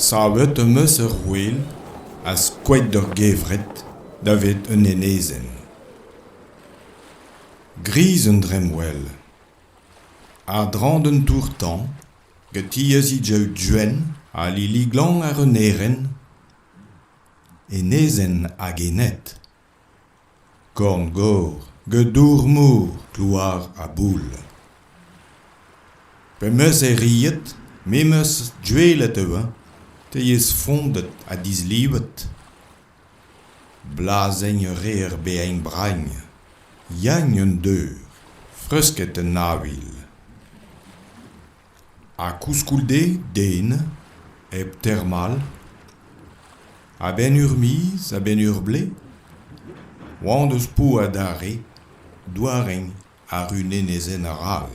Savet am eus ur ouel ha skoet ur gevred davet un enezenn. Gris un dremmwel. A-dreñv d'un tour-tañv, gatiez he daou duenn ha lili glan ar un erenn, enezenn hag ened korn-gor gedour mor klouar ha boull pe'meus erruet me 'meus juelet eu-eñ teiez fondet ha dislivet blazenn a reer bezañ bragn yagn un deur freusket en avel Ha koulskoude, den, hep termal, a-benn ur miz, a-benn ur blez, oan deus po adarre doareñ àr un enezenn arall.